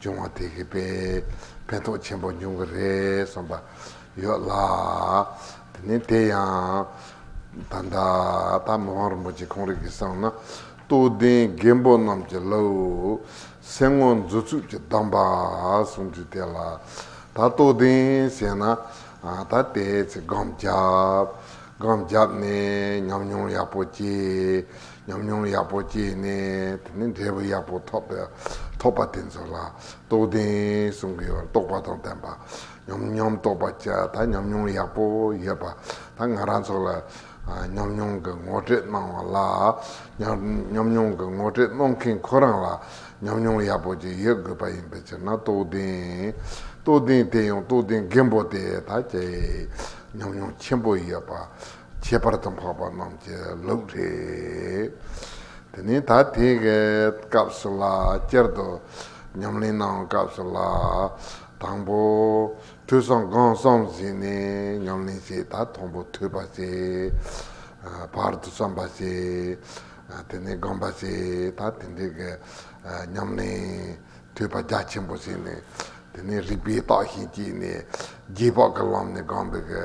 བྱུང་བ་དེ་གི་དཔེ་ཕན་ཐོགས་ཆེན་པོ་འབྱུང་གི་རེད་གསུངས་པ་ཡོད་ལ། དེ་ནས་དེ་ཡང་ད་ལྟ་ད་མི་དབང་རིན་པོ་ཆེ་ཁོང་རིགས་ཀྱི་གསང་ན་སྟོད་གདན་རྒན་པོ་རྣམས་ཀྱི་ལ་འུར་སེ་ངོ་མཛོད་ཚུགས་ཀྱི་གདམས་པ་གསུང་རྒྱུ་དེ་ལ་ད་སྟོད་གདན་ཟེར་ན་ད་དེའི་ཚེ་སྒམ་རྒྱབ་སྒམ་རྒྱབ་ནས་ཉམས་མྱོང་ཡག་པོ་སྐྱེས་ཉམས་མྱོང་ཡག་པོ་སྐྱེས་ནས་དེ་ནས་འབྲས་བུ་ཡག་པོ་ཐོབ་པ་དེ་ཚོ་ལ་རྟོགས་ལྡན་གསུང་གི་བར་རྟོགས་པ་དང་ལྡན་པ་ཉམས་མྱོང་རྟོགས་པ་ཅི་ད་ཉམས་མྱོང་ཡག་པོ་ཡོད་པ་ད་ང་རང་ཚོ་ལ་ཉམས་མྱོང་གི་ངོ་སྤྲོད་གནང་བ་ལ་ཉམས་མྱོང་གི་ངོ་སྤྲོད་གནང་མཁན་ཁོ་རང་ལ་ཉམས་མྱོང་ཡག་པོ་ཅིག་ཡོད་དགོས་པ་ཡིན་པའི་ཕྱིར་ན་རྟོགས་ལྡན་དེ་ཡང་རྟོགས་ལྡན་རྒན་པོ་དེ་ད་ཇི་ཉམས་མྱོང་ཆེན་པོ་ཡོད་པ་ཁྱད་པར་དུ་འཕགས་པ་རྣམས་ཀྱི་ལུགས་རེད། དེ་ནས་ད་ཐེངས་ཀྱི་སྐབས་སུ་ལ་བསྐྱར་དུ་ཉམས་ལེན་གནང་བའི་སྐབས་སུ་ལ་དང་པོ་ཐོས་བསམ་སྒོམ་གསུམ་བཞི་ནས་ཉམས་ལེན་བྱས་ད་དང་པོ་ཐོས་པ་བྱས། བར་དུ་བསམ་པ་བྱས། དེ་ནས་སྒོམ་པ་བྱས་ད་དེ་འདྲའི་གི་ཉམས་ལེན་ཐོས་པ་རྒྱ་ཆེན་པོ་བྱས་ནས་དེ་ནས་རིག་པའི་རྟགས་ཤིང་བསྐྱེད་ནས་རྗེས་དཔག་གི་ལམ་ནས་སྒོམ་པའི་གི་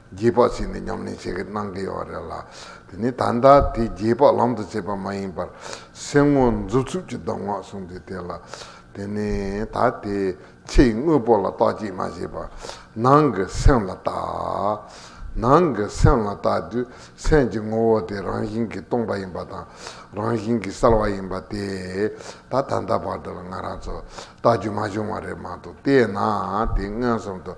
རྗེས་དཔག་བྱས་ནས་ཉམས་ལེན་བྱེད་ཀྱི་གནང་གི་ཡོད་བ་རེད་ལ། དེ་ནི་ད་ལྟ་དེ་རྗེས་དཔག་ལམ་དུ་བྱེད་པ་མ་ཡིན་པར། སེམས་ངོ་མཛུབ་ཚུབ་ཀྱི་གདམས་ངག་གསུངས་དུས་དེ་ལ། དེ་ནི་ད་དེ་ཕྱི་ཡི་དངོས་པོ་ལ་བརྟག་ཅིག་མ་ཞེས་པ། ནང་གི་སེམས་ལ་བརྟག། ནང་གི་སེམས་ལ་བརྟག་དུས་སེམས་ཀྱི་ངོ་བོ་དེ་རང་བཞིན་གྱིས་སྟོང་པ་ཡིན་པ་དང། རང་བཞིན་གྱིས་གསལ་བ་ཡིན་པ་དེ། ད་ད་ལྟ་བར་དུ་ལ་ང་རང་ཚོ་བརྟག་རྒྱུ་མ་བྱུང་བ་རེད་མ་གཏོགས་དེས་ན་དེ་མངོན་སུམ་དུ་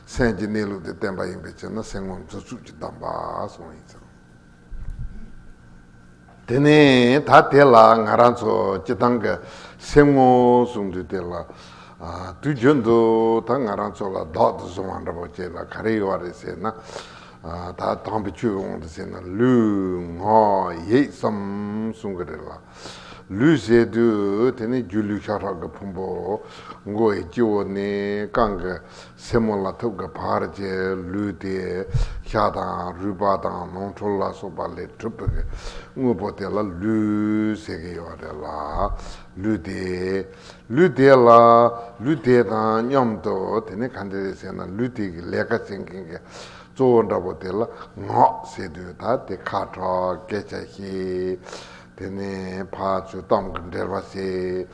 སེམས་ཀྱི་གནས་ལུགས་དེ་བསྟན་པ་ཡིན་པའི་ཕྱིར་ན་སེམས་ངོམས་རྩོལ་རྩུབ་ཀྱི་གདམས་པ་གསུངས་ཡིན་ཙང། དེ་ནས་ད་དེ་ལ་ང་རང་ཚོ་སྤྱི་བཏང་གི་སེམས་ངོ་སྲུང་དུས་དེ་ལ་དུས་རྒྱུན་དུ་ད་ང་རང་ཚོ་ལ་བདག་ཏུ་བཟུང་བ་འདྲ་པོ་བྱེད་ལ་ག་རེ་ཡོད་རེད་ཟེར་ན། ད་དང་པོ་ཆོས་འོང་དུ་ཟེར་ན་ལུས་ངག་ཡིད་གསུམ་བསྲུང་གི་རེད་ལ། ལུས་ཟད་དུས་དེ་ནི་སྒྱུ་ལུས་ཤ་ཁྲག་གི་ཕུང་པོ། མགོ་བོའི་སྤྱི་བོ་ནས་རྐང་གི་སེན་མོ་ལ་ཐུབ་ཀྱི་བར་གྱི་ལུས་དེ། ཤ་དང་རུས་པ་དང་ནོར་འཁྲུལ་ལ་སོགས་པ་ལས་གྲུབ་པའི་དངོས་པོ་དེ་ལ་ལུས་ཟེར་གྱི་ཡོད་རེད་ལ། ལུས་དེ། ལུས་དེ་ལ། ལུས་དེ་དང་མཉམ་དུ་དེ་ནི་ག་འདྲ་རེད་ཟེར་ན་ལུས་དེ་གི་ལས་ཀ་བྱེད་མཁན་གྱི་གཙོ་བོ་འདྲ་པོ་དེ་ལ་ངག་ཟེར་དུས་ད་དེ་ཁ་དྲོ་སྐད་ཆ་བཤད། དེ་ནས་བག་ཆུ་གཏམ་གྱི་འདྲེར་བ་བྱས།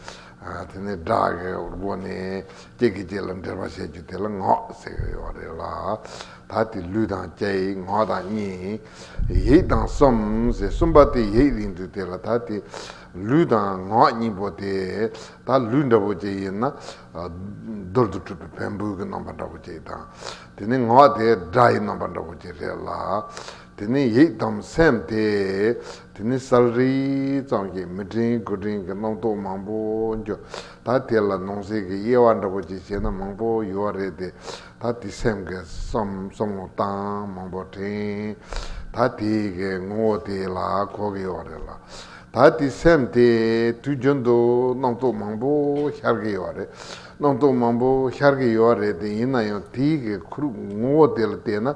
དེ་ནས་སྒྲ་གི་སྒོ་ནས་སྐྱེས་ཀྱི་སྐྱེས་ལ་འདྲེར་བ་བྱས་རྒྱུ་དེ་ལ་ངག་ཟེར་གྱི་ཡོད་རེད་ལ། ད་དེ་ལུས་དང་སྐྱེའི་ངག་དང་གཉིས། ཡིད་དང་གསུམ་ཟེར་གསུམ་པ་དེ་ཡིད་ཡིན་དུས་དེ་ལ་ད་དེ་ལུས་དང་ངག་གཉིས་པོ་དེ་ད་ལུས་འདྲ་བོ་ཅིག་ཡིན་ན། རྡོལ་དུ་གྲུབ་པའི་བན་བུན་གྱི་རྣམ་པ་འདྲ་བོ་ཅིག་དང། དེ་ནས་ངག་དེ་སྒྲ་ཡི་རྣམ་པ་འདྲ་བོ་ཅིག་རེད་ལ། དེ་ནི་ཡིད་དམ་སེམས་ཏེ། དེ་ནི་སཱལ་རིགས་ཙམ་གྱིས་མི་དྲན་དགུ་དྲན་གྱི་རྣམ་རྟོག་མང་པོ་འགྱུ། ད་དེ་ལ་ནོངས་སེལ་གྱི་དབྱེ་བ་འདྲ་པོ་ཅིག་བྱས་ན་མང་པོ་ཡོད་བ་རེད་དེ། ད་དེ་སེམས་ཀྱི་བསམ་ངོ་དང་མང་པོ་དྲན། ད་དེ་གི་ངོ་བོ་དེ་ལ་གོ་གི་ཡོད་རེད་ལ། ད་དེ་སེམས་དེ་དུས་རྒྱུན་དུ་རྣམ་རྟོག་མང་པོ་ཤར་གྱི་ཡོད་རེད། རྣམ་རྟོག་མང་པོ་ཤར་གྱི་ཡོད་རེད་དེ་ཡིན་ན་ཡང་དེ་གི་ཁུར་ངོ་བོ་དེ་ལ་བལྟས་ན་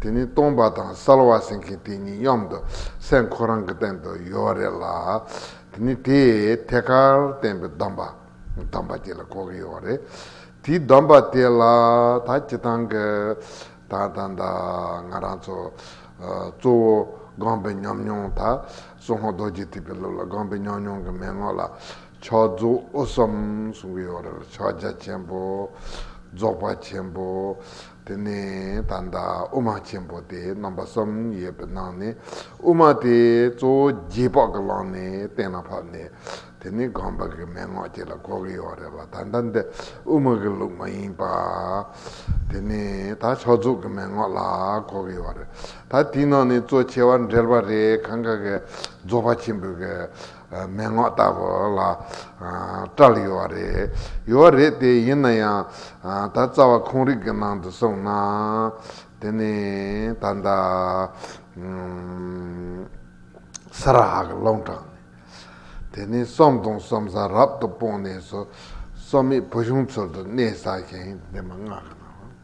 དེ་ནི་སྟོང་པ་དང་གསལ་བ་སེང་གེ་དེ་གཉིས་གཡོམ་དུ་སེང་ཁོ་རང་གི་སྟེང་དུ་ཡོད་བ་རེད་ལ། དེ་ནི་དེས་ཐད་ཀར་བསྟན་པའི་སྡོམ་པ་སྡོམ་པ་དེ་ལ་གོ་གི་ཡོད་བ་རེད། དེའི་སྡོམ་པ་དེ་ལ་ད་ཅི་ཐང་གི་ད་ད་ད་ང་རང་ཚོ་གཙོ་བོ་དགོངས་པའི་ཉམས་མྱོང་ད་སུ་ཧོང་རྡོ་རྗེ་ཐེག་པའི་སློབ་ལ་དགོངས་པའི་ཉམས་མྱོང་གི་མན་ངོ་ལ་ཕྱོགས་རྫོགས་གསུམ་གསུང་གི་ཡོད་བ་རེད་ལ་ཕྱོགས་རྒྱ་ཆེན་པོ་རྫོགས་པ་ཆེན་པོ་དེ་ནས་ད་ལྟ་དབུ་མ་ཆེན་པོ་དེ་རྣམ་པ་གསུམ་ཡོད་པའི་ནང་ནས་དབུ་མ་དེ་གཙོ་བོ་རྗེས་དཔག་གི་ལམ་ནས་གཏན་ལ་ཕབ་ནས་དེ་ནི་སྒོམ་པ་གི་མན་ངག་ཅིག་ལ་གོ་གི་ཡོད་རེད་བ་ད་ལྟ་འདི་དབུ་མ་གི་ལུགས་མ་ཡིན་པ། དེ་ནི་ད་ཕྱོགས་རྫོགས་གི་མན་ངག་ལ་གོ་གི་ཡོད་རེད་ད་དེའི་ནང་ནས་གཙོ་ཆེ་བ་འགྲེལ་པ་རེ་གང་ག་གི་རྫོགས་པ་ཆེན་པོའི་གི་མན་ངག་ལྟ་བུ་ལ་སྐྲག་ཡོད་བ་རེད། ཡོད་བ་རེད་དེ་ཡིན་ན་ཡང་ད་རྩ་བ་ཁོང་རིགས་ཀྱི་ནང་དུ་སོང་ན། དེ་ནི་ད་ལྟ་ས་ར་ཧ་གི་ཀློང་དྲངས་ནས། དེ་ནི་གསོམ་སྟོང་གསོམ་ས་རབ་ཏུ་སྤོངས་ནས་སོ་སོ་མེད་བུ་ཆུང་ཚུལ་དུ་གནས་ས་ཞིང་འདི་མ་ངག་གི་ནང།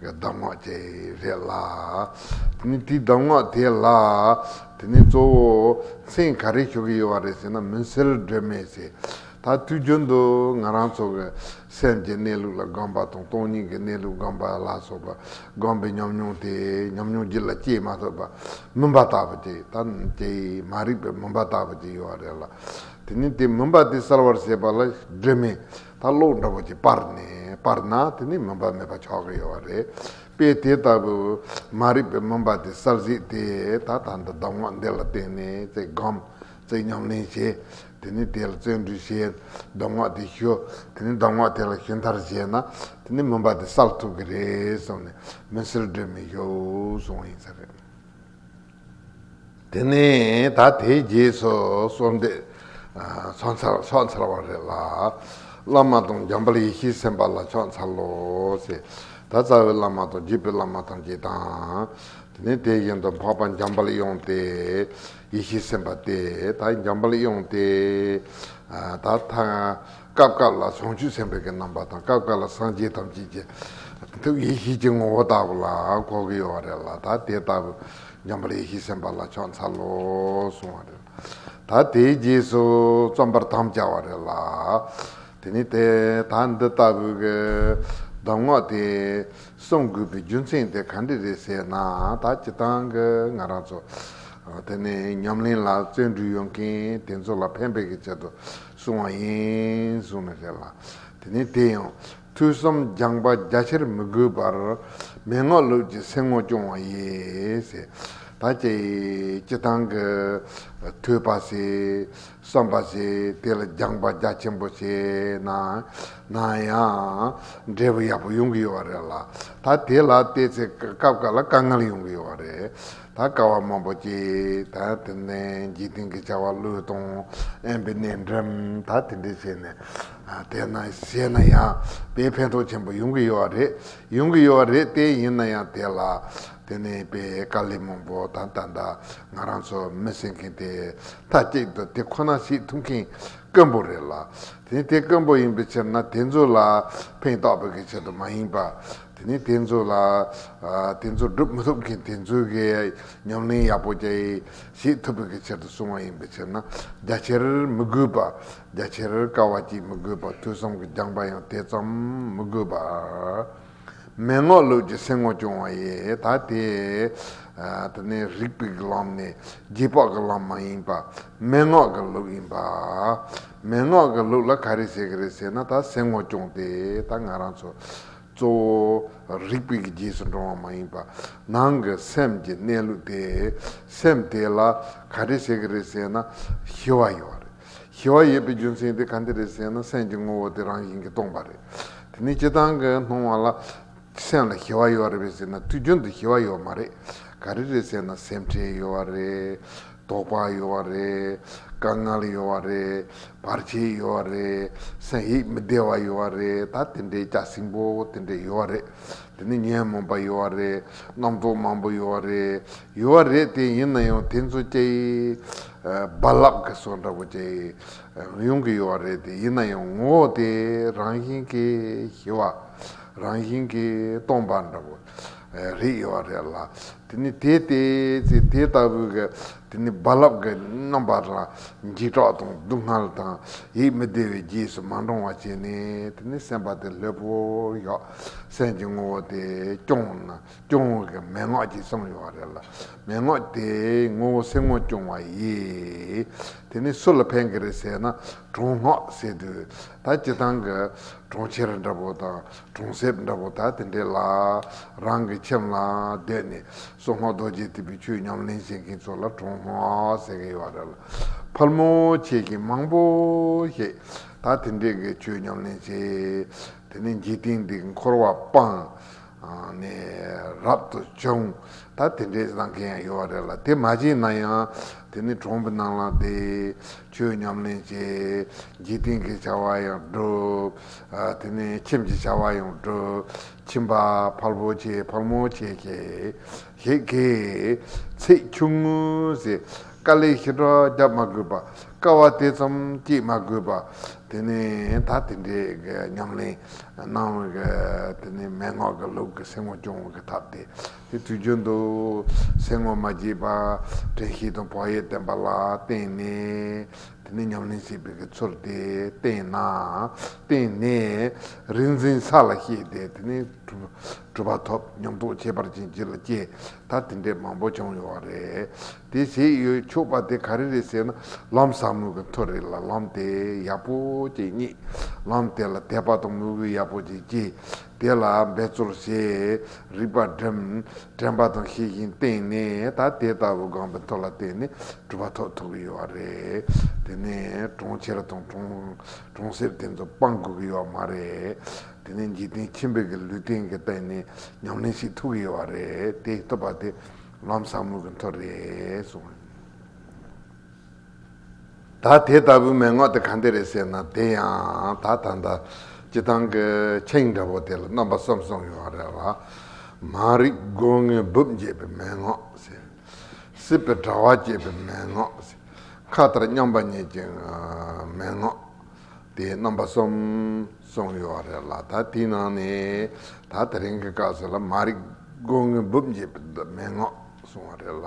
གདམས་ངག་དེ་རེད་ལ། དེ་ནི་དེའི་གདམས་ངག་དེ་ལ། དེ་ནི་གཙོ་བོ་མཚན་ག་རེ་ཞུ་གི་ཡོད་པ་རེད་ཟེར་ན་མུན་སེལ་སྒྲོན་མེ་ཟེར། ད་དུས་རྒྱུན་དུ་ང་རང་ཚོ་གི་སེམས་ཀྱི་གནས་ལུགས་ལ་སྒོམ་པ་དང་སྟོང་ཉིད་ཀྱི་གནས་ལུགས་སྒོམ་པ་ལ་སོགས་པ་སྒོམ་པའི་ཉམས་མྱོང་དེ་ཉམས་མྱོང་རྒྱུད་ལ་སྐྱེས་མ་ཐུབ་པ་མུན་པ་ལྟ་བུ་དེ་ད་དེ་མ་རིག་པའི་མུན་པ་ལྟ་བུ་དེ་ཡོད་རེད་ལ། དེ་ནི་དེ་མུན་པ་དེ་སེལ་བར་བྱེད་པ་ལ་སྒྲོན་མེ། ད་གློག་འདྲ་བོ་ཅིག་སྤར་ནས་སྤར་ན་དེ་ནི་མུན་པ་མེད་པ་ཆགས་ཀྱི་ཡོད་བ་རེད་པས་དེ་ལྟ་བུ་མ་རིག་པའི་མུན་པ་དེ་སར་གཟིགས་ཏེ་ད་ད་འདི་གདམས་ངག་འདི་ལ་བརྟེན་ནས་ཚེ་སྒོམ་ཚེ་ཉམས་ལེན་བྱེད་དེ་ནི་དེ་ལ་བརྩོན་འགྲུས་བྱེད་གདམས་ངག་དེ་ཞུ་དེ་ནི་གདམས་ངག་དེ་ལ་ཞུ་མཐར་བྱས་ན་དེ་ནི་མུན་པ་དེ་སལ་ཐུབ་ཀྱི་རེད་གསུངས་ནས་མུན་སེལ་སྒྲོན་མེ་ཞུ་གསུངས་བ་ཡིན་ས་རེད། དེ་ནས་ད་དེའི་རྗེས་སུ་གསོལ་འདེབས་ཕྱོགས་མཚར་ཕྱོགས་མཚར་བ་རེ་ལ། བླ་མ་དང་འཇམ་དཔལ་ཡེ་ཤེས་སེམས་དཔའ་ལ་ཕྱོགས་མཚར་ལོ། ད་རྩ་བའི་བླ་མ་དང་རྗེས་པའི་བླ་མ་ཐམས་ཅད་དང། དེ་ནས་དེ་བཞིན་དུ་འཕགས་པ་འཇམ་དཔལ་དབྱངས་ཏེ། ཡེ་ཤེས་སེམས་དཔའ་སྟེ་ད་འཇམ་དཔལ་དབྱངས་ཏེ། ད། སྐབས་སྐབས་ལ་བྱང་ཆུབ་སེམས་དཔའ་གྱི་རྣམ་པ་དང་སྐབས་སྐབས་ལ་སངས་རྒྱས་ཐམས་ཅད་ཀྱི་ཐུགས་ཡེ་ཤེས་ཀྱི་ངོ་བོ་ལྟ་བུ་ལ་གོ་གི་ཡོད་བ་རེད་ལ་ད་དེ་ལྟ་བུ་འཇམ་པར་ཡེ་ཤེས་སེམས་དཔའ་ལ་ཕྱོགས་འཚལ་ལོ་གསུང་བ་རེད་ལ་ད་དེའི་རྗེས་སུ་རྩོམ་པར་དམ་བཅའ་བ་རེད་ལ། དེ་ནི་དེ་ད་འདི་ལྟ་བུའི་གདམས་ངག་དེ་གསུང་དགོས་པའི་རྒྱུ་མཚན་དེ་ག་འདྲི་རེད་ཟེར་ན་ད་སྤྱི་དང་གི་ང་རང་ཚོ་དེ་ནས་ཉམས་ལེན་ལ་བརྩོན་འགྲུས་ཡོད་མཁན་དེ་ཚོ་ལ་ཕན་པའི་ཆེད་དུ་བཟུང་བ་ཡིན། བཟུང་ནས་བྱས་ལ། དེ་ནས་དེ་ཡང། ཐོས་བསམ་སྦྱངས་པ་རྒྱ་ཆེར་མི་དགོས་པར། མན་ངག་ལུགས་ཀྱི་སེམས་ངོ་སྐྱོང་བ་ཡིས། ད་ཅི། ཅི་བཏང་གི། ཐོས་པ་བྱས། བསམ་པ་བྱས། དེ་ལ་སྦྱངས་པ་རྒྱ་ཆེན་པོ་བྱས་ན། ན་ཡང། འབྲས་བུ་ཡག་པོ་ཡོང་གི་ཡོད་བ་རེད་ལ། ད་དེ་ལ་བལྟས་ཚེ་སྐབས་འགའ་ལ་དཀའ་ངལ་ཡོང་གི་ཡོད་བ་རེད། དང་ཀ་བ་མང་པོ་སྐྱེས། དང་དེ་ནས་འཇིག་རྟེན་གྱི་བྱ་བ་བློས་གཏོང་ཨེན་པའི་གནས་འགྲིམ། དང་དེ་འདྲས་བྱས་ནས། དེས་ན་གཞན་ན་ཡང་དཔེའི་ཕན་ཐོགས་ཆེན་པོ་ཡོང་གི་ཡོད་རེད། ཡོང་གི་ཡོད་རེད་དེ་ཡིན་ན་ཡང་དེ་ལ། དེ་ནས་དཔེ་དཀའ་ལས་མང་པོ་དང་ད་ལྟ་ང་རང་ཚོ་མི་བསྲེ་མཁན་དེ་མཐའ་གཅིག་ཏུ་དེ་ཁོ་ན་ཞིག་ཐུབ་མཁན་དཀོན་པོ་རེད་ལ། དེ་དེ་དཀོན་པོ་ཡིན་པའི་ཕྱིར་ན་དེ་ཚོ་ལ་ཕན་ཐོགས་པའི་ཆེད་དུ་མ་ཡིན་པར། དེ་ནས་དེ་ཚོ་ལ། དེ་ཚོ་བསྒྲུབ་མི་ཐུབ་མཁན་དེ་ཚོའི་གི་ཉམས་ལེན་ཡག་པོ་བཅས་ཤིག་ཐུབ་པའི་གི་ཕྱིར་དུ་གསུང་བ་ཡིན་པའི་ཕྱིར་ན་རྒྱ་ཆེར་མི་དགོས་པ། རྒྱ་ཆེར་དཀའ་བ་གཅིག་མི་དགོས་པ་ཐོས་བསམ་གི་སྦྱངས་པ་ཡང་དེ་ཙམ་མི་དགོས་པ། མན་ངག་ལུགས་ཀྱི་སེམས་ངོ་སྐྱོང་བ་ཡི་ད་དེ། དེ་ནས་རིགས་པའི་གི་ལམ་ནི་རྗེས་དཔག་གི་ལམ་མ་ཡིན་པ། མན་ངག་གི་ལུགས་ཡིན་པ། མན་ངག་གི་ལུགས་ལ་ག་རེ་བྱེད་གི་རེད་ཟེར་ན་ད་སེམས་ངོ་སྐྱོང་སྟེ་ད་ང་རང་ཚོ། གཙོ་བོ། རིག་པའི་རྗེས་སུ་འབྲང་བ་མ་ཡིན་པ། ནང་གི་སེམས་ཀྱི་གནས་ལུགས་དེ། སེམས་དེ་ལ་ག་རེ་བྱེད་ཀྱི་རེད་ཟེར་ན། ཞི་བ་ཡོད་རེད། ཞི་བ་ཡོད་པའི་རྒྱུ་མཚན་དེ་ག་འདི་རེད་ཟེར་ན་སེམས་ཀྱི་ངོ་བོ་དེ་རང་བཞིན་གྱིས་སྟོང་པ་རེད། དེ་ནི་སྤྱི་བཏང་གི་སྣང་བ་ལ། སེམས་ལ་ཞི་བ་ཡོད་རེད་ཟེར་ན་དུས་རྒྱུན་དུ་ཞི་བ་ཡོད་མ་རེད། ག་རེ་རེད་ཟེར་ན་སེམས་ཁྲལ་ཡོད་རེད། དོགས་པ་ཡོད་བ་རེད། དཀའ་ངལ་ཡོད་བ་རེད། བར་ཆད་ཡོད་བ་རེད། སེམས་ཡིད་མི་བདེ་བ་ཡོད་བ་རེད་ད་དེ་འདྲའི་སྐྱག་སྲིན་པོ་དེ་འདྲས་ཡོད་བ་རེད། དེ་ནས་ཉོན་མོངས་པ་ཡོད་བ་རེད། རྣམ་རྟོག་མང་པོ་ཡོད་བ་རེད། ཡོད་བ་རེད་དེ་ཡིན་ན་ཡང་དེ་ཚོ་ཀྱེ། རྦ་རླབས་ཀྱི་སོ་འདྲ་པོ་ཀྱེ། ཡོང་གི་ཡོད་བ་རེད་དེ་ཡིན་ན་ཡང་ངོ་བོ་དེ་རང་བཞིན་གྱིས་ཞི་བ། རང་བཞིན་གྱིས་སྟོང་པ་འདྲ་པོ། རིགས་ཡོད་པ་རེད་ལ། དེ་ནི་དེ་སྟེ། ཚེ་དེ་ལྟ་བུའི་གེགས་དེ་ནི་རྦ་རླབས་ཀྱི་རྣམ་པ་དང། འཇིགས་སྐྲག་དང་སྡུག་བསྔལ་དང། ཡིད་མི་བདེ་བའི་རྗེས་སུ་མ་འབྲང་བ་བྱས་ནས་དེ་ནི་སེམས་པ་དེ་ལྷོད་པོ་ཡོད། སེམས་ཀྱི་ངོ་བོ་དེ་སྐྱོང་ན་སྐྱོང་བའི་གེགས་མན་ངག་ཅིག་བསམ་ཡོད་པ་རེད་ལ། མན་ངག་དེའི་ངོ་བོ་སེམས་ངོ་སྐྱོང་བ་ཡིན། དེ་ནི་སུ་ལ་ཕན་གི་རེད་ཟེར་ན་གྲོང་སྔགས་ཟེར་དུས་ད་ཇི་ལྟང་གི་གྲོང་ཁྱེར་འདྲ་པོ་དང་གྲོང་གསེབ་འདྲ་པོ་དག་དེ་འདྲའི་ལ་རང་གི་ཁྱིམ་ལ་བསྡད་ནས་སོ་ལྔ་རྡོ་རྗེ་ཐེབས་པའི་ཆོས་ཉམས་ལེན་བྱེད་མཁན་ཚོ་ལ་གྲོང་ལྷོ་ཟེར་གི་ཡོད་རེད་ལ། ཕལ་མོ་ཆེ་ཞིག་མང་པོ་ཞིག་དག་དེ་འདྲའི་གི་ཆོས་ཉམས་ལེན་བྱེད། དེ་ནས་འཇིག་རྟེན་འདི་འཁོར་བ་སྤངས་ནས་རབ་ཏུ་བྱུང་དག་དེ་འདྲའི་བཟང་མཁན་ཡང་ཡོད་རེད་ལ་དེ་མ་བྱས་ན་ཡང་དེ་ནི་གྲོང་གི་ནང་ལ་བསྡད། ཆོས་ཉམས་ལེན་བྱེད། འཇིག་རྟེན་གྱི་བྱ་བ་ཡང་བསྒྲུབ། དེ་ནས་ཁྱིམ་གྱི་བྱ་བ་ཡང་བསྒྲུབ། ཁྱིམ་པ་ཕར་བོ་ཆེ་ཕར་མོ་ཆེ་ཁྱེད། ཞེས་ཁེའི། ཚེ་ཆུང་ངུ། ཟེར། ཀ་ལས་ཞི་དྲག་བརྒྱབ་མ་དགོས་པ། ཀ་བ་དེ་ཙམ་སྐྱེད་མ་དགོས་པ། དེ་ནས་ད་དེ་འདྲའི་ཉམས་ལེན་གནང། དེ་ནས་མན་ངག་གི་ལུགས་ཀྱི་སེམས་ངོ་སྐྱོང་བའི་ཐབས་དེ་དེ་དུས་རྒྱུན་དུ་ཟས་ངོ་མ་བརྗེས་པ་བྲན་ཤེས་དང་བག་ཡོད་བསྟེན་པ་ལ་བརྟེན་ནས་དེ་ནི་ཉམས་ལེན་བྱེད་པའི་གི་ཚུལ་ཏེ་བརྟེན་ན་བརྟེན་ནས་རིག་འཛིན་ས་ལ་ཤེས་ཏེ་དེ་ནི་གྲུབ་པ་ཐོབ་སྙམ་རྟོག་ཁྱད་པར་ཅན་སྤྱི་ལ་སྐྱེ་ད་དེ་འདྲས་མང་པོ་བྱུང་ཡོད་རེད་དེ་བྱེད་ཡོད་ཆོག་པ་དེ་ག་རེ་རེད་ཟེར་ན་ལམ་ཟག་མོད་ཀྱི་མཐོ་རིས་ལ་ལམ་དེ་ཡག་པོ་ཅིག་རྙེད་ལམ་དེ་ལ་དད་པ་དང་མོས་གུས་ཡག་པོ་ཅིག་སྐྱེས་དེ་ལ་འབད་རྩོལ་ཞེས་རིགས་པ་འདྲེན། དྲན་པ་དང་ཤེས་བཞིན་བསྟེན་ནས་ད་དེ་ལྟ་བུ་སྒང་པའི་མཐོ་ལ་བརྟེན་ནས་གྲུབ་པ་ཐོག་ཐུག་གི་ཡོད་བ་རེད། དེ་ནས་གྲོང་ཁྱེར་དང་གྲོང་གསེབ་དེ་ཚོ་སྤང་དགོས་ཀྱི་ཡོད་མ་རེད། དེ་ནས་འཇིག་རྟེན་ཆེན་པོའི་གི་ལུས་རྟེན་གྱི་བརྟེན་ནས་ཉམས་ལེན་ཞིག་ཐུག་གི་ཡོད་བ་རེད་དེ་ཐུབ་པ་དེ་ལམ་ཟབ་མོ་གི་མཐོ་རེད་གསུངས། ད་དེ་ལྟ་བུའི་མན་ངག་དེ་གང་དེ་རེད་ཟེར་ན་དེ་ཡང་ད་ད་ལྟ་སྤྱི་བཏང་གི་ཆིངས་འདྲ་བོ་དེ་ལ་རྣམ་པ་གསུམ་གསུམ་ཡོད་པ་རེད་ལ། མ་རིག་སྒོ་ངའི་སྦུབས་འབྱེད་པའི་མན་ངག་ཟེར། སྲིད་པའི་དྲ་བ་བཅད་པའི་མན་ངག་ཟེར། མཁའ་ལྟར་མཉམ་པ་ཉིད་ཀྱི་མན་ངག་དེ་རྣམ་པ་གསུམ་གསུམ་ཡོད་པ་རེད་ལ་ད་དེའི་ནང་ནས་ད་དེ་རིང་གི་སྐབས་སུ་ལ་མ་རིག་སྒོ་ངའི་སྦུབས་འབྱེད་པའི་མན་ངག་གསུང་བ་རེད་ལ།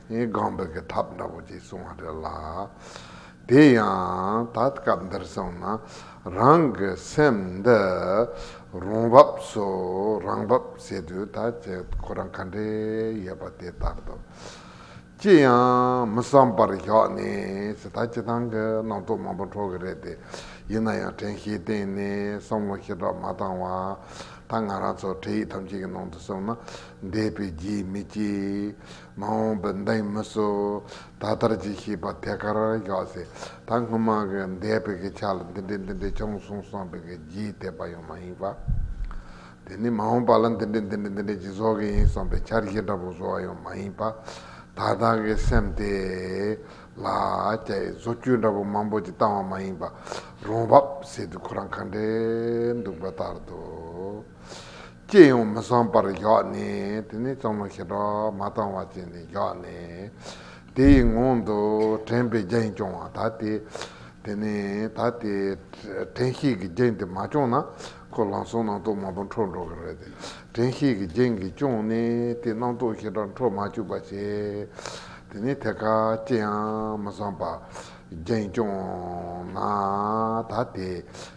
ཡིན་གང་འདོད་ཀྱི་ཐབས་འདྲ་བོ་ཅིག་སོང་བ་རེད་ལ། དེ་ཡང་ད་སྐབས་འདིར་སོང་ན་རང་གི་སེམས་འདི་རང་བབས་སུ་རང་བབས་བྱེད་དུས་ད་ཆའི་ཁོ་རང་ག་འདྲའི་ཡོད་པ་དེ་ལྟར་དུ་ཅི་ཡང་མི་བསམ་པར་བཞག་ནས་ད་ཅི་ཐང་གི་སྣང་ཚོགས་མང་པོ་འཕྲོ་གི་རེད་དེ། ཡིན་ན་ཡང་དྲན་ཤེས་གཏན་ནས་བསམ་བློ་ཞེ་དྲག་མ་བཏང་བ་ད་ང་རང་ཚོ་འཕྲལ་ཡིག་ཐམས་ཅད་ཀྱི་ནང་དུ་སོང་ན་འདས་པའི་རྗེས་མི་སྐྱེས། མ་འོངས་པའི་མདའ་ཡི་མུ་སུ་ད་ལྟར་གྱི་ཤེས་པ་ཐད་ཀར་བཞག་ཚེ་ད་སྔོན་མ་གི་མདའི་དཔེ་གི་ཆ་ལ་འདི་འདྲའི་འདི་འདྲའི་ཅུང་གསུངས་སོང་བས་ཀྱི་རྒྱས་བཏད་པ་ཡང་མ་ཡིན་པ། དེ་ནས་མ་འོངས་པ་ལ་འདི་འདྲའི་འདི་འདྲའི་འདི་འདྲའི་ཅིག་བཟོ་གི་ཡིན་སོང་བས་འཆར་གཞི་འདྲ་པོ་བཟོ་བ་ཡང་མ་ཡིན་པ། ད་ལྟ་གི་སེམས་དེ་ལ་ཀྱ་ཡི་བཟོ་བཅོས་འདྲ་པོ་མང་པོ་ཅིག་བཏང་བ་མ་ཡིན་པ། རང་བབས་ཟེར་དུས་ཁོ་རང་ག་འདྲའི་འདུག་པ་ལྟར་དུ། ལྕེ་ཡང་མི་བསམ་པར་བཞག་ནས་དེ་ནས་ལྕང་ལོ་ཞེ་དྲག་མ་བཏང་བ་བྱས་ནས་བཞག་ནས། དེའི་ངང་དུ་དྲན་པའི་རྒྱན་སྐྱོང་བ་ད་དེ། དེ་ནས་ད་དེ། དྲན་ཤེས་ཀྱི་རྒྱན་དེ་མ་སྐྱོང་ན། ཁོ་ལང་སོང་སྣང་སྟོང་མང་པོ་འཕྲོ་འགྲོ་གི་རེད། དྲན་ཤེས་ཀྱི་རྒྱན་གྱིས་སྐྱོང་ནས་དེ་སྣང་སྟོང་ཞེ་དྲག་འཕྲོ་མ་བཅུག་པ་བྱས། དེ་ནས་ཐད་ཀར་ལྕེ་ཡང་མི་བསམ་པར་རྒྱན་སྐྱོང་ན་ད་དེ།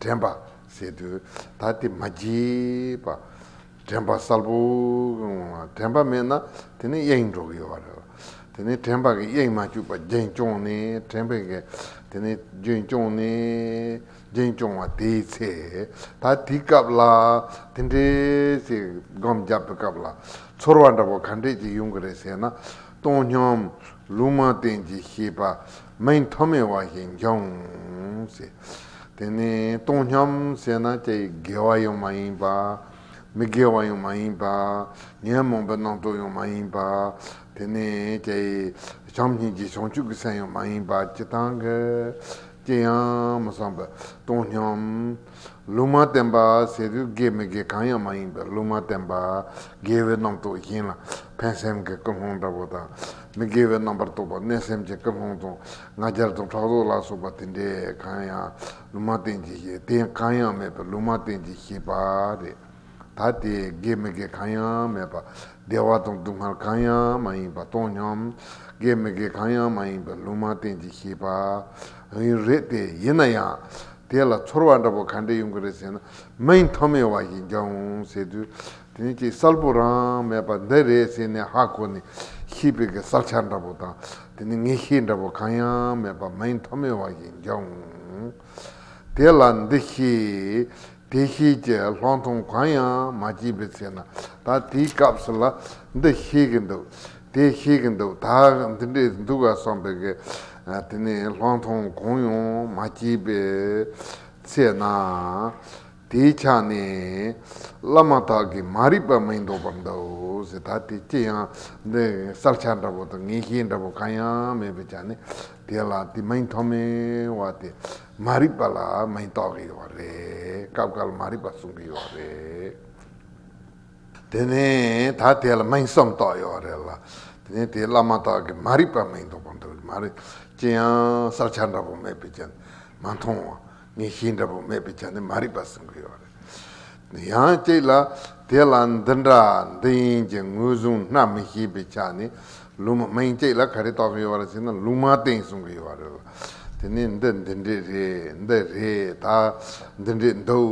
དྲན་པ། ཟེར་དུས་ད་དེ་མ་བགྱིས་པ། དྲན་པ་གསལ་པོ། དྲན་པ་མེད་ན་དེ་ནི་གཡེང་འགྲོ་གི་ཡོད་པ་རེད། དེ་ནི་དྲན་པ་གི་གཡེང་མ་བཅུག་པ་རྒྱན་སྐྱོང་ནི་དྲན་པའི་གེ། དེ་ནི་རྒྱུན་སྐྱོང་ནི། རྒྱན་སྐྱོང་བ་དེའི་ཚེ། ད་དེའི་སྐབས་ལ། དེ་འདྲའི་ཞིག་སྒོམ་བརྒྱབ་པའི་སྐབས་ལ། ཚོར་བ་འདྲ་པོ་ག་འདྲས་ཀྱིས་ཡོང་གི་རེད་ཟེར་ན། སྟོང་སྙོམས། ལུང་མ་བསྟན་གྱི་ཤེས་པ་མི་མཐོ་དམན་བ་ཞིག་འབྱུང། དེ་ནི་སྟོང་སྙམ་ཟེར་ན་དེ་དགེ་བ་ཡང་མ་ཡིན་པ། མི་དགེ་བ་ཡང་མ་ཡིན་པ། ཉོན་མོངས་པའི་རྣམ་རྟོག་ཡང་མ་ཡིན་པ། དེ་ནི་བྱམས་སྙིང་རྗེ་བྱང་ཆུབ་ཀྱི་སེམས་ཡང་མ་ཡིན་པ་ཅི་དང། ཅི་ཡང་མི་བསམ་པའི་སྟོང་སྙམ། ལུང་མ་བསྟན་པ་ཟེར་དུས་དགེ་མི་དགེ་གང་ཡང་མ་ཡིན་པའི་ལུང་མ་བསྟན་པ། དགེ་བའི་རྣམ་རྟོག་གཞན་ལ་ཕན་སེམས་ཀྱི་ཀུན་སློང་འདྲ་བོ་དང། མི་དགེ་བའི་རྣམ་པར་རྟོག་པ་གནོད་སེམས་ཀྱི་ཀུན་སློང་དང་ང་རྒྱལ་དང་ཕྲག་དོག་ལ་སོགས་པ་དེ་འདྲས་གང་ཡང་ལུང་མ་བསྟན་གྱི་དེ་གང་ཡང་མེད་པའི་ལུང་མ་བསྟན་གྱི་ཞེས་པ་རེད། ད་དེ་དགེ་མི་དགེ་གང་ཡང་མེད་པ། བདེ་བ་དང་སྡུག་བསྔལ་གང་ཡང་མ་ཡིན་པ་སྟོང་སྙམ། དགེ་མི་དགེ་གང་ཡང་མ་ཡིན་པའི་ལུང་མ་བསྟན་གྱི་ཤེས་པ། ཡིན། རེད་དེ་ཡིན་ན་ཡང། དེ་ལ་ཚོར་བ་འདྲ་པོ་ག་འདྲས་ཡོང་གི་རེད་ཟེར་ན། མིང་མཐོ་མི་བ་ཞིག་འཇོག་འོང་ཟེར་དུས། དེ་ནི་ཅིག་གསལ་པོ་རང་མེད་པ་འདི་རེད་ཟེར་ནས་ཧ་གོ་ནས། ཤེས་པའི་གི་གསར་ཆ་འདྲ་པོ་དང། དེ་ནི་ངེས་ཤེས་འདྲ་པོ་གང་ཡང་མེད་པ་མིང་མཐོ་མི་བ་ཞིག་འཇོག་འོང། དེ་ལ་འདི་ཤེས། དེ་ཤེས་ཀྱི་ལྷག་མཐོང་གང་ཡང་མ་སྐྱེས་པའི་ཚེ་ན་ད་དེའི་སྐབས་ལ་འདི་ཤེས་ཀྱི་འདུག་དེ་ཤེས་ཀྱི་འདུག་ད་འདི་འདྲས་འདུག་ག་བསམ་པས་ཀྱི་དེ་ནས་ལྷག་མཐོང་གང་ཡང་མ་སྐྱེས་པའི་ཚེ་ན་དེའི་ཆ་ནས་བླ་མ་དག་གིས་མ་རིག་པ་མི་འདོར་བར་འདུག་ད་དེ་ཅི་ཡང་འདི་གསར་ཆ་འདྲ་བོ་དང་ངེས་ཤེས་འདྲ་བོ་གང་ཡང་མེད་པའི་ཆ་ནས་དེ་ལ་དེ་མི་མཐོང་མིན་བ་དེ། མ་རིག་པ་ལ་མི་རྟོག་གི་ཡོད་པ་རེད་སྐབས་འགར་མ་རིག་པ་གསུང་གི་ཡོད་རེད། དེ་ནས་ད་དེ་ལ་མིང་གསུམ་རྟོག་ཡོད་རེད་ལ། དེ་ནས་དེ་བླ་མ་རྟོག་གི་མ་རིག་པ་མིང་འདོག་པ་འདོག་གི་མ་རེད། ཅི་ཡང་བསགས་ཆ་འདྲ་པོ་མེད་པའི་ཆ་ནས་མ་མཐོང་བ། ངེས་ཤེས་འདྲ་པོ་མེད་པའི་ཆ་ནས་མ་རིག་པ་གསུང་གི་ཡོད་རེད། ཡང་གཅིག་ལ། དེ་ལ་འདི་འདྲ་འདི་ཡིན་གྱི་ངོས་བཟུང་སྣ་མི་ཤེས་པའི་ཆ་ནས་ལུང་མ་སྨིན་གཅིག་ལ་ག་རེ་རྟོགས་ཀྱི་ཡོད་རེད་ཟེར་ན་ལུང་མ་བསྟན་གསུང་གི་ཡོད་རེད་ལ། དེ་ནས་འདི་འདི་འདྲས་རེད་འདི་རེད་ད་འདི་འདྲས་འདུག་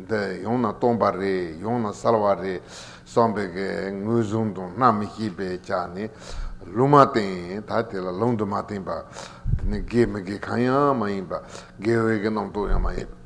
འདི་ཡང་ན་སྟོང་པ་རེད་ཡང་ན་གསར་བ་རེད་བསམ་པའི་གི་ངོས་བཟུང་དང་སྣ་མི་ཤེས་པའི་ཆ་ནས་ལུང་མ་བསྟན་ད་དེ་ལ་ལུང་དུ་མ་བསྟན་པ། དེ་ནི་དགེ་མི་དགེ་གང་ཡང་མ་ཡིན་པ་དགེ་འོས་ཀྱི་རྣམ་རྟོག་ཡང་མ་ཡིན།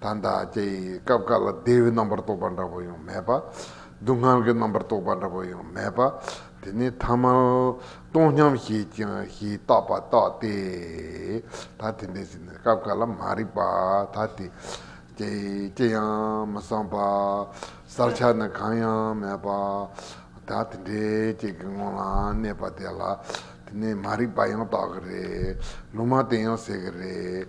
ད་ལྟ་ཀྱེ་ཡི་སྐབས་དཀའ་ལ་བདེ་བའི་རྣམ་པར་རྟོག་པ་འདྲ་པོ་ཡང་མེད་པ། སྡུག་བསྔལ་གྱི་རྣམ་པར་རྟོག་པ་འདྲ་པོ་ཡང་མེད་པ། དེ་ནི་ཐ་མལ་སྟོང་སྙམ་བྱེད་ཅིང་ཞེས་བཏགས་པ་རྟག་སྟེ། ད་དེ་འདྲའི་ཕྱིར་ནི་སྐབས་འགའ་ལ་མ་རིག་པ་ད་དེ། ཀྱེ་ཡི་ཅི་ཡང་མི་བསམ་པ། བསལ་བྱ་ནི་གང་ཡང་མེད་པ། ད་དེ་འདྲའི་ཅིག་གི་ངང་ལ་གནས་པ་དེ་ལ། དེ་ནི་མ་རིག་པ་ཡང་བཏགས་ཀྱི་རེད། ལུང་མ་བསྟན་ཡང་ཟེར་གྱི་རེད།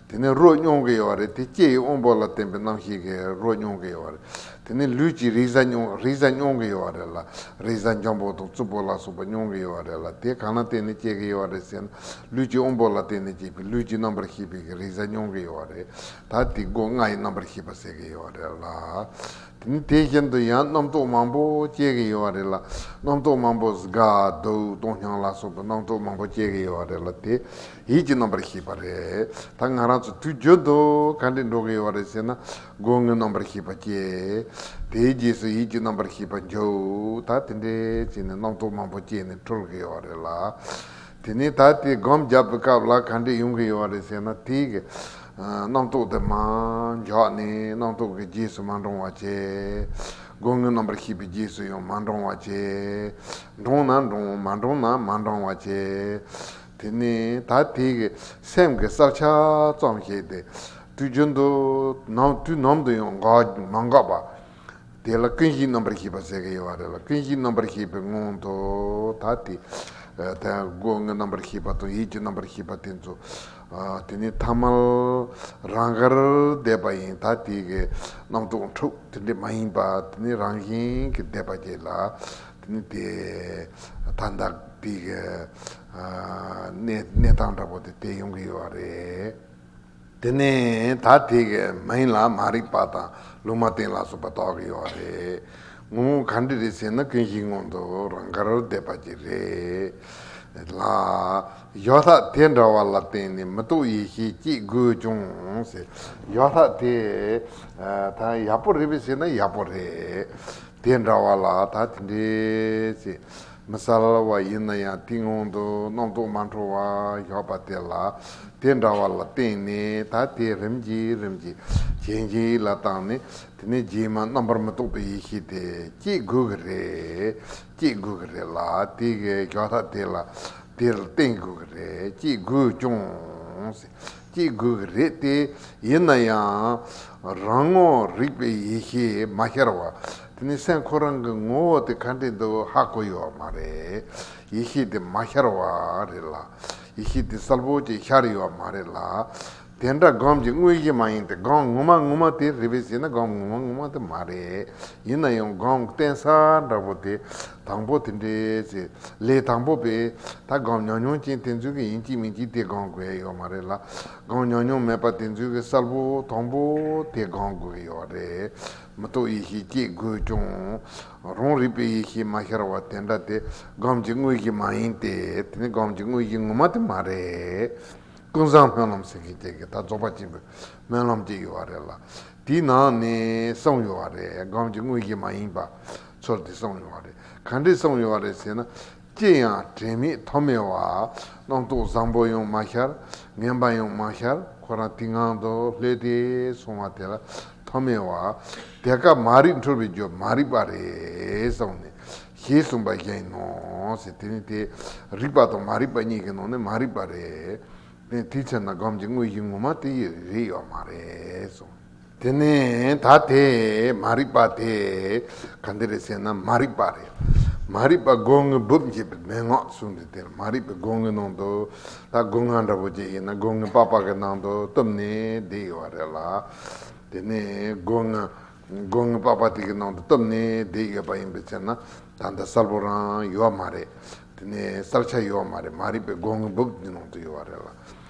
དེ་ནི་རོ་མྱོང་གི་ཡོད་པ་རེད་དེ་ལྕེ་ཡི་དབང་པོ་ལ་བརྟེན་པའི་རྣམ་ཤེས་ཀྱིས་རོ་མྱོང་གི་ཡོད་པ་རེད་དེ་ནི་ལུས་ཀྱིས་རེག་བྱ་མྱོང་གི་ཡོད་པ་རེད་ལ་རེག་བྱ་འཇམ་པོ་དང་རྩུབ་པོ་ལ་སོགས་པ་མྱོང་གི་ཡོད་པ་རེད་ལ་དེ་གང་ན་བརྟེན་ནས་སྐྱེ་གི་ཡོད་པ་རེད་ཟེར་ན་ལུས་ཀྱི་དབང་པོ་ལ་བརྟེན་ནས་སྐྱེས་པའི་ལུས་ཀྱི་རྣམ་པར་ཤེས་པས་ཀྱི་རེག་བྱ་མྱོང་གི་ཡོད་པ་རེད་ད་དེ་སྒོ་ལྔ་ཡི་རྣམ་པར་ཤེས་པ་ཟེར་གྱི་ཡོད་པ་རེད་ལ། དེ་ནི་དེ་བཞིན་དུ་ཡང་རྣམ་རྟོག་མང་པོ་སྐྱེ་གི་ཡོད་པ་རེད་ལ་རྣམ་རྟོག་མང་པོ་གཟུགས་དགའ་སྡུག་གཏོང་སྙོང་ལ་སོགས་པའི་རྣམ་རྟོག་མང་པོ་སྐྱེ་གི་ཡོད་པ་རེད་ལ་དེ་ཡིད་ཀྱི་རྣམ་པར་ཤེས་པ་རེད། ད་ང་རང་ཚོ་དུས་རྒྱུན་དུ་ག་འདྲས་འགྲོ་གི་ཡོད་རེད་ཟེར་ན། སྒོ་དངུལ་རྣམ་པར་ཤེས་པ་སྐྱེ། དེའི་རྗེས་སུ་ཡིད་ཀྱི་རྣམ་པར་ཤེས་པ་འཇོག་ད་དེ་འདྲས་བྱས་ནས་རྣམ་རྟོག་མང་པོ་སྐྱེས་ནས་གྲོལ་གི་ཡོད་རེད་ལ། དེ་ནས་ད་དེ་སྒོམ་རྒྱབ་པའི་སྐབས་ལ་ག་འདྲས་ཡོང་གི་ཡོད་རེད་ཟེར་ན་དེ། རྣམ་རྟོག་དེ་མང་འཇོག་ནས་རྣམ་རྟོག་གི་རྗེས་སུ་མ་འབྲོང་བ་བྱས། སྒོ་དངུལ་རྣམ་པར་ཤེས་པའི་རྗེས་སུ་ཡང་མ་འབྲོང་བ་བྱས། འབྲོང་ན་འབྲོང་མ་འབྲོང་ན་མ་འབྲང་བ་བྱས། དེ་ནི་ད་ཐེངས་ཀྱི་སེམས་ཀྱི་བསགས་ཆ་ཙམ་ཞིག་སྟེ། དུས་རྒྱུན་དུ་ནམ་དུས་ནམ་དུ་ཡང་མ་འགག་པ། དེ་ལ་ཀུན་གཞིའི་རྣམ་པར་ཤེས་པ་ཟེར་གྱི་ཡོད་པ་རེད་ལ་ཀུན་གཞིའི་རྣམ་པར་ཤེས་པའི་སྔོན་དུ་ད་ཐེངས་སྒོ་ལྔའི་རྣམ་པར་ཤེས་པ་དང་ཡིད་ཀྱི་རྣམ་པར་ཤེས་པ་དེ་ཚོ། དེ་ནི་ཐ་མལ་རང་གར་བསྡད་པ་ཡིན་ད་ཐེངས་ཀྱི་རྣམ་རྟོག་འཁྲུགས་དེ་འདྲ་མ་ཡིན་པ་དེ་ནི་རང་བཞིན་གྱིས་བསྡད་པ་དེ་ལ། ནི་དེ། ད་ལྟ་དཔེ་གི་གནས་སྟངས་འདྲ་པོ་དེ་བལྟས་ཡོང་གི་ཡོད་པ་རེད། དེ་ནས་ད་དེ་གི་མ་ཡིན་ལ་མ་རིག་པ་དང་ལུང་མ་བསྟན་ལ་སོགས་པ་དོགས་ཀྱི་ཡོད་པ་རེད། ངོ་བོ་ག་འདྲི་རེད་ཟེར་ན་ཀུན་གཞིའི་སྔོན་དུ་རང་གར་བསྡད་པ་གྱིས་རེད། ལ། ཡོད་ལྷག་དེ་འདྲ་བ་ལ་བརྟེན་ནས་མི་རྟོག་ཡེ་ཤེས་སྐྱེ་དགོས་ཀྱང་ཟེར། ཡོད་ལྷག་དེ། ད་ཡག་པོ་རེད་པས་ཟེར་ན་ཡག་པོ་རེད། དེ་འདྲ་བ་ལ་ད་དེ་འདྲའི་ཚེ་མི་གསལ་བ་ཡིན་ན་ཡང་སྟེང་འོག་ཏུ་རྣམ་རྟོག་མ་འཕྲོ་བར་བཞག་པ་དེ་ལ་དེ་འདྲ་བ་ལ་བརྟེན་ནས་ད་དེ་རིམ་གྱིས་རིམ་གྱིས་གཞན་གྱི་ཡིད་ལ་བཏང་ནས་དེ་ནས་རྗེས་མ་རྣམ་པར་མི་རྟོག་པའི་ཡེ་ཤེས་དེ་སྐྱེད་དགོས་ཀྱི་རེད། སྐྱེད་དགོས་ཀྱི་རེད་ལ་དེ་གའི་ཞག་ཐག་དེ་ལ་དེ་ལ་བརྟེན་དགོས་ཀྱི་རེད་སྐྱེད་དགོས་ཀྱང། སྐྱེ་དགོས་ཀྱི་རེད་དེ། ཡིན་ན་ཡང། རང་ངོ་རིག་པའི་ཡེ་ཤེས་མ་ཤར་བ། དེ་ནི་སེམས་ཁོ་རང་གི་ངོ་བོ་དེ་ག་འདྲེ་འདུག་ཧ་གོ་ཡོད་མ་རེད། ཡེ་ཤེས་དེ་མ་ཤར་བ་རེད་ལ། ཡེ་ཤེས་དེ་གསལ་པོ་ཅིག་ཤར་ཡོད་མ་རེད་ལ། དེ་འདྲ་སྒོམ་གྱི་དངོས་གཞི་མ་ཡིན་ཏེ་སྒོམ་ངོ་མ་ངོ་མ་དེ་རེད་བས་ཟེར་ན་སྒོམ་ངོ་མ་ངོ་མ་དེ་མ་རེད། ཡིན་ན་ཡང་སྒོམ་གཏན་ས་འདྲ་པོ་དེ། དང་པོ་དེ་འདྲའི་ཚེ་ལས་དང་པོ་པས་ད་སྒང་ཉག་ཉུང་ཅན་དེ་ཚོའི་གི་ཡིན་གཅིག་མིན་གཅིག་དེ་སྒང་དགོས་ཡོད་མ་རེད་ལ། སྒང་ཉག་ཉུང་མེད་པ་དེ་ཚོའི་གི་གསར་བུ་དང་པོ་དེ་སྒང་དགོས་ཡོད་རེད། མི་རྟོག་ཡེ་ཤེས་སྐྱེས་དགོས་ཀྱང། རང་རིག་པའི་ཡེ་ཤེས་མ་ཤར་བ་དེ་འདྲ་དེ་སྒང་གི་དངོས་གཞི་མ་ཡིན་ཏེ་དེ་ནི་སྒང་གི་དངོས་གཞི་ངོ་མ་དེ་མ་རེད། ཀུན་བཟང་སྨོན་ལམ་ཟེར་མཁན་ཅན་གི་ད་རྫོགས་པ་ཆེན་པོའི་སྨོན་ལམ་ཅིག་ཡོད་རེད་ལ། དེའི་ནང་ནས་གསུངས་ཡོད་རེད་སྒང་གི་དངོས་གཞི་མ་ཡིན་པ། ཚོར་འདི་གསུངས་ཡོང་བ་རེད། གང་འདྲས་གསུངས་ཡོང་བ་རེད་ཟེར་ན། ཅི་ཡང་དྲན་མེད་ཐོག་མེད་བ། རྣམ་རྟོག་བཟང་པོ་ཡང་མ་ཤར། ངན་པ་ཡང་མ་ཤར་ཁོ་རང་དེ་ངང་དུ་ལྷོད་དེ་སོང་བ་དེ་ལ་ཐོག་མེད་བ། དེ་སྐབས་མ་རིག་འཁྲུལ་བའི་རྒྱུ་མ་རིག་པ་རེད་གསུངས་ནས། ཞེས་གསུངས་པ་བཞིན་ཡིན་ནོ། དེ་ནི་དེ་རིག་པ་དང་མ་རིག་པ་གཉིས་ཀྱི་ནང་ནས་མ་རིག་པ་རེད། དེའི་ཕྱིར་ན་སྒོམ་གྱི་དངོས་གཞི་ངོ་མ་དེ་རེད་ཡོད་མ་རེད་གསུངས། དེ་ནས་ད་དེ་མ་རིག་པ་དེ་ག་འདི་རེད་ཟེར་ན་མ་རིག་པ་རེད། མ་རིག་པ་སྒོ་ངའི་སྦུབས་འབྱེད་པའི་མན་ངག་གསུངས་འདུག་དེར་མ་རིག་པའི་སྒོ་ངའི་ནང་དུ་ད་སྒོ་ང་འདྲ་བོ་ཅིག་ཡིན་ན་སྒོ་ངའི་པགས་པགས་ཀྱི་ནང་དུ་གཏུབ་ནས་བསྡད་ཡོད་པ་རེད་ལ། དེ་ནས་སྒོ་ང་སྒོ་ངའི་པགས་པགས་དེ་གི་ནང་དུ་གཏུབ་ནས་བསྡད་ཡོད་པ་ཡིན་པས་ཟེར་ན་ད་འདི་གསལ་པོ་རང་ཡོད་མ་རེད། དེ་ནས་གསལ་ཆ་ཡོད་མ་རེད་མ་རིག་པའི་སྒོ་ངའི་སྦུབས་འདི་ནང་དུ་ཡོད་པ་རེད་ལ།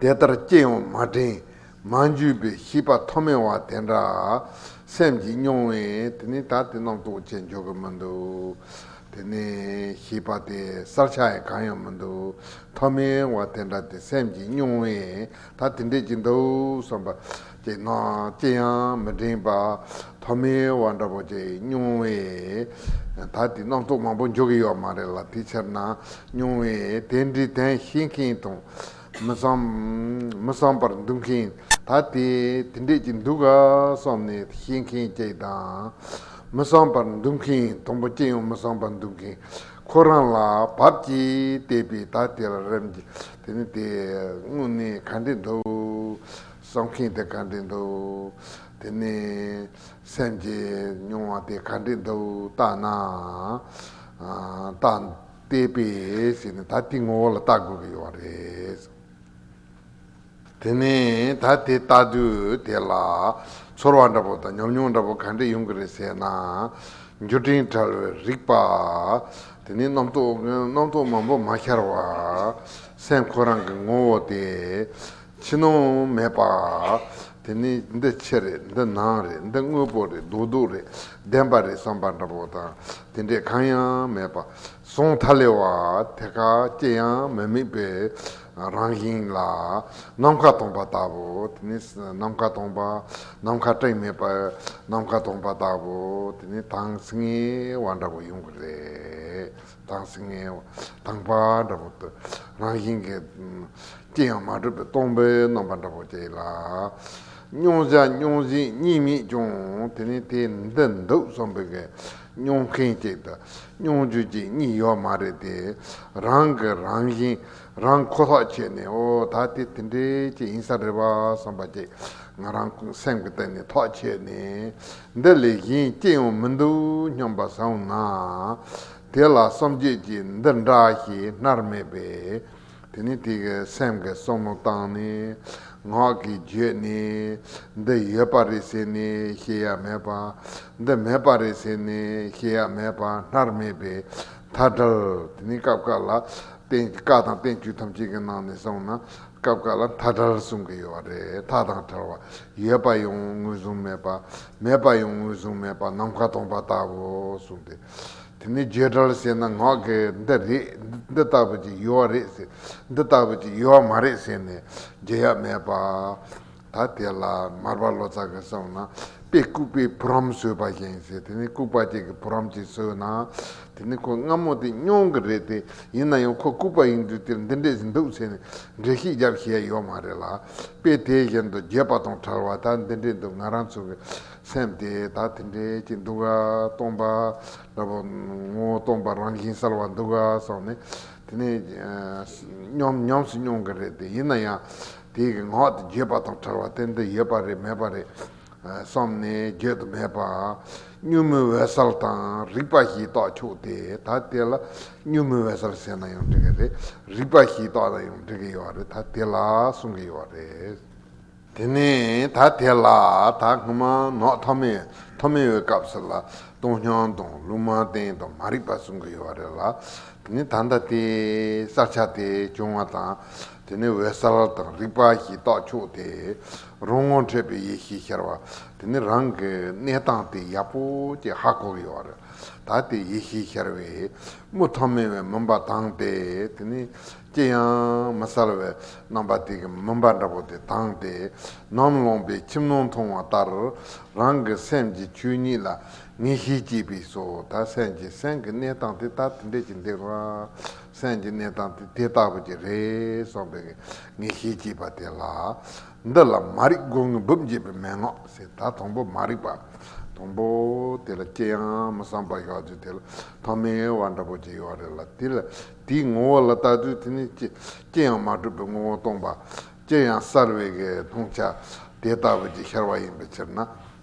དེ་ལྟར་སྐྱེ་ཡང་མ་དྲན། མ་འཇུས་པའི་ཤེས་པ་ཐོག་མེད་བ་དེ་འདྲ། སེམས་ཀྱིས་མྱོང་བས་དེ་ནི་ད་དེ་རྣམས་རྟོགས་བྱེད་འཇོག་གི་མི་འདུག། དེ་ནི་ཤེས་པ་དེ་གསར་ཆགས་ཡང་གང་ཡང་མི་འདུག་ཐོག་མེད་བ་དེ་འདྲ་དེ་སེམས་ཀྱིས་མྱོང་བས་ད་དེ་འདྲས་ཀྱི་འདུག་བསམ་པ། དེ་སྔ་ཅི་ཡང་མི་དྲན་པ་ཐོག་མའི་བ་འདྲ་པོ་ཅིག་སྨྱུང་བས། ད་དེ་སྣ་ཚོགས་མང་པོ་འཇོག་གི་ཡོད་མ་རེད་ལ་དེ་ཕྱིར་ན་སྨྱུང་བས་དེ་འདྲའི་དོན་ཤེས་མཁན་དང། མི་བསམ་པར་འདུག་མཁན་ད་དེ་དེ་འདྲས་ཀྱི་འདུག་ག་བསམ་ནས་ཤེས་མཁན་གཅིག་དང། མི་བསམ་པར་འདུག་མཁན་དང་པོ་ཅི་ཡང་མི་བསམ་པར་འདུག་མཁན་ཁོ་རང་ལ་བབ་ཀྱིས་བལྟས་པས་ད་དེ་ལ་རེམ་གྱི་དེ་ནི་དེ་དངོས་གནས་ག་འདྲས་འདུག། བསམ་མཁན་དེ་ག་འདྲས་འདུག་དེ་ནས། སེམས་ཀྱི་མྱོང་བ་དེ་ག་འདྲས་འདུག་བརྟགས་ན། བརྟགས། བལྟས་པས་ཞེས་ནི་ད་དེའི་ངོ་བོ་ལ་བརྟག་དགོས་ཀྱི་ཡོད་པ་རེད། དེ་ནས་ད་དེ་བརྟགས་དུས་དེ་ལ། ཚོར་བ་འདྲ་པོ་དང་ཉམས་མྱོང་འདྲ་པོ་ག་འདྲས་ཡོང་གི་རེད་ཟེར་ན། འགྱུར་འཕྲེང་ཕྲལ་བའི་རིག་པ། དེ་ནི་རྣམ་རྟོག་མང་པོ་མ་ཤར་བར། སེམས་ཁོ་རང་གི་ངོ་བོ་དེ། ཕྱི་ནང་མེད་པ། དེ་ནི་འདི་ཕྱི་རེད་འདི་ནང་རེད་འདི་དངོས་པོ་རེད་སྡུག་སྡུག་རེད་བདེན་པ་རེད་བསམ་པ་འདྲ་པོ་དང་དེ་འདྲས་གང་ཡང་མེད་པ། གཟུང་མཐའ་ལས་བ་དེ་ག་ཅི་ཡང་མི་དམིགས་པའི་རང་བཞིན་ལ། ནམ་མཁའ་སྟོང་པ་ལྟ་བུ། དེ་ནི་ནམ་མཁའ་སྟོང་པ། ནམ་མཁའ་སྤྲིན་མེད་པ། ནམ་མཁའ་སྟོང་པ་ལྟ་བུ། དེ་ནི་དྭངས་སྙིགས་བ་འདྲ་པོ་ཡོང་གི་རེད། དང་སེམས་ངལ་བ་དང་བ་འདྲ་བོ་སྟེ། རང་བཞིན་གྱིས་ཅི་ཡང་མ་གྲུབ་པའི་སྟོང་པའི་རྣམ་པ་འདྲ་བོ་སྐྱེ་ལ། མྱོང་བྱ་མྱོང་བྱེད་གཉིས་མེད་ཀྱང་དེ་ནི་དེ་འདི་འདུག་བསམ་པའི་གནས་མྱོང་མཁན་གཅིག་དང་མྱོང་བྱེད་གཅིག་གཉིས་ཡོད་མ་རེད་དེ། རང་གི་རང་བཞིན་རང་ཁོ་ཐག་ཆོད་ནས་འོ་ད་དེ་དེ་འདྲའི་ཅིག་ཡིན་ས་རེད་བསམ་པ་ཅིག་ང་རང་སེམས་ཀྱི་སྟེང་ནས་ཐག་ཆོད་ནས། འདི་ལས་གཞན་སྐྱེ་ཡང་མི་འདུག་སྙམ་པ་བཟང་ན། དེ་ལ་སངས་རྒྱས་ཀྱིས་འདི་འདྲ་ཞེས་མནར་སྨྲས་པས། དེ་ནས་དེ་གའི་སེམས་ཀྱི་བསམ་མནོ་བཏང་ནས། ངག་གིས་བརྗོད་ནས། འདི་ཡོད་པ་རེད་ཟེར་ནས་ཤེས་ཡ་མེད་པ། འདི་མེད་པ་རེད་ཟེར་ནས་ཤེས་ཡ་མེད་པ་མནར་སྨྲས་པའི་མཐའ་བྲལ། དེ་ནས་སྐབས་འགའ་ལ། བཀའ་དང་བསྟན་བཅོས་ཐམས་ཅད་ཀྱི་ནང་ནས་བསམ་ན། སྐབས་འགའ་ལ་མཐའ་བྲལ་གསུང་གི་ཡོད་པ་རེད་མཐའ་དང་བྲལ་བ། ཡོད་པ་ཡང་ངོས་བཟུང་མེད་པ། མེད་པ་ཡང་ངོས་བཟུང་མེད་པ་ནམ་མཁའ་སྟོང་པ་ལྟ་བུ་གསུངས་ཏེ། དེ་ནས་བརྗོད་བྲལ་ལ་ཤེས་ན་ངག་གིས་འདི་རེད་འདི་ལྟ་བུ་ཅིག་ཡོད་བ་རེད་ཟེར། འདི་ལྟ་བུ་ཅིག་ཡོད་བ་མ་རེད་ཟེར་ནས་བརྗོད་ཡག་མེད་པ། ད་དེ་ལ་མར་པ་ལོ་ཙཱ་གིས་གསུངས་ན་དཔེ་ལྐུགས་པའི་བུ་རམ་བཟོས་པ་བཞིན་ཟེར་དེ་ནས་ལྐུགས་པ་གཅིག་གི་བུ་རམ་གཅིག་བཟོས་ན། དེ་ནི་ཁོ་སྔ་མོ་སྟེ་སྨྱོང་གི་རེད་དེ་ཡིན་ན་ཡང་ཁོ་ལྐུག་པ་ཡིན་དུས་དེར་འདི་འདྲས་ཟིན་འདུག་ཟེར་ནས་འགྲེལ་བཤད་རྒྱབ་བཞེས་ཡོད་མ་རེད་ལ། དཔེ་དེ་བཞིན་དུ་བརྒྱད་པ་དང་ཕྲལ་བ་དག་འདི་འདྲས་འདུག་ང་རང་ཚོ་གི་སེམས་དེ་དག་དེ་འདྲས་ཀྱི་འདུག་ཨ། སྟོང་པ་ལ་བུ། ངོ་བོ་སྟོང་པ་རང་བཞིན་གསལ་བ་འདུག་ཨ་སོགས་ནི། དེ་ནི། སྨྱོང་ཉམས་སུ་སྨྱོང་གི་རེད་དེ་ཡིན་ན་ཡང། དེའི་ངག་དེ་བརྒྱད་པ་དང་ཕྲལ་བ་དེ་འདི་ཡོད་པ་རེད་མེད་པ་རེད། བསམས་ནས་བརྗོད་དུ་མེད་པར་གཉུག་མའི་འོད་གསལ་དང་རིག་པ་ཞེས་རྟོགས་ཆོག་སྟེ་ད་དེ་ལ་གཉུག་མའི་འོད་གསལ་ཟེར་ན་ཡང་འགྲིག་གི་རེད་རིག་པ་ཞེས་རྟོགས་ན་ཡང་འགྲིག་གི་ཡོད་རེད་ད་དེ་ལ་གསུང་གི་ཡོད་རེད། དེ་ནས་ད་དེ་ལ་ད་སྔ་མ་ནོག་ཐོག་མའི་ཐོག་མའི་འོས་སྐབས་སུ་ལ་སྟོང་ཤོང་དང་ལུང་མ་བསྟན་དང་མ་རིག་པ་གསུང་གི་ཡོད་རེད་ལ་དེ་ནས་ད་ལྟ་དེ་བསགས་ཆ་དེ་བྱུང་བ་དང་དེ་ནས་འོད་གསལ་དང་རིག་པ་ཞེས་རྟོགས་ཆོག་སྟེ། རང་ངོ་འཕྲད་པའི་ཡེ་ཤེས་ཤར་བ་དེ་ནི་རང་གི་གནས་སྟངས་དེ་ཡག་པོ་ཅིག་ཧ་གོ་གི་ཡོད་རེད་ད་དེ་ཡེ་ཤེས་ཤར་བས་དམུ་ཐོག་མེད་བའི་མུན་པ་དྭངས་ཏེ་དེ་ནི་ཅི་ཡང་མི་གསལ་བའི་རྣམ་པ་དེ་གི་མུན་པ་འདྲ་པོ་དེ་དྭངས་ཏེ་ནམ་ལངས་པའི་ཁྱིམ་ནང་མཐོང་བ་ལྟར་རང་གི་སེམས་ཀྱི་ཆོས་ཉིད་ལ་ངེས་ཤེས་སྐྱེས་པས་སོ་ད་སེམས་ཀྱི་སེམས་ཀྱི་གནས་སྟངས་དེ་ད་དེ་འདྲས་ཀྱི་འདུག་ང་སེམས་ཀྱི་གནས་སྟངས་དེ་དེ་ལྟ་བུ་ཅིག་རེད་སོང་པས་ངས་ཤེས་ཀྱིས་པ་དེ་ལ། འདི་ལ་མ་རིག་སྒོ་ངའི་སྦུབས་འབྱེད་པའི་མན་ངག་ཟེར་ད་དང་པོ་མ་རིག་པ་དང་པོ་དེ་ལ་ཅི་ཡང་མི་བསམ་པར་གཞག་རྒྱུ་དེ་ལ་ཐོག་མའི་བ་འདྲ་པོ་ཅིག་ཡོད་རེད་ལ་དེ་ལ་དེའི་ངོ་བོ་ལ་ལྟ་དུས་དེ་ནི་ཅི་ཅི་ཡང་མ་གྲུབ་པའི་ངོ་བོ་སྟོང་པ་ཅི་ཡང་གསར་བའི་མཐོང་བྱ་དེ་ལྟ་བུ་ཅིག་ཤར་བ་ཡིན་པའི་ཕྱིར་ན་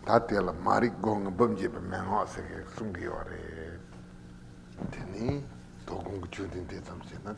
ད་དེ་ལ་མ་རིག་སྒོ་ངའི་སྦུབས་འབྱེད་པའི་མན་ངག་ཟེར་གསུང་གི་ཡོད་རེད། དེ་ནི་དོ་དགོང་གི་མཆོད་རྟེན་དེ་ཙམ་ཞིག་ན།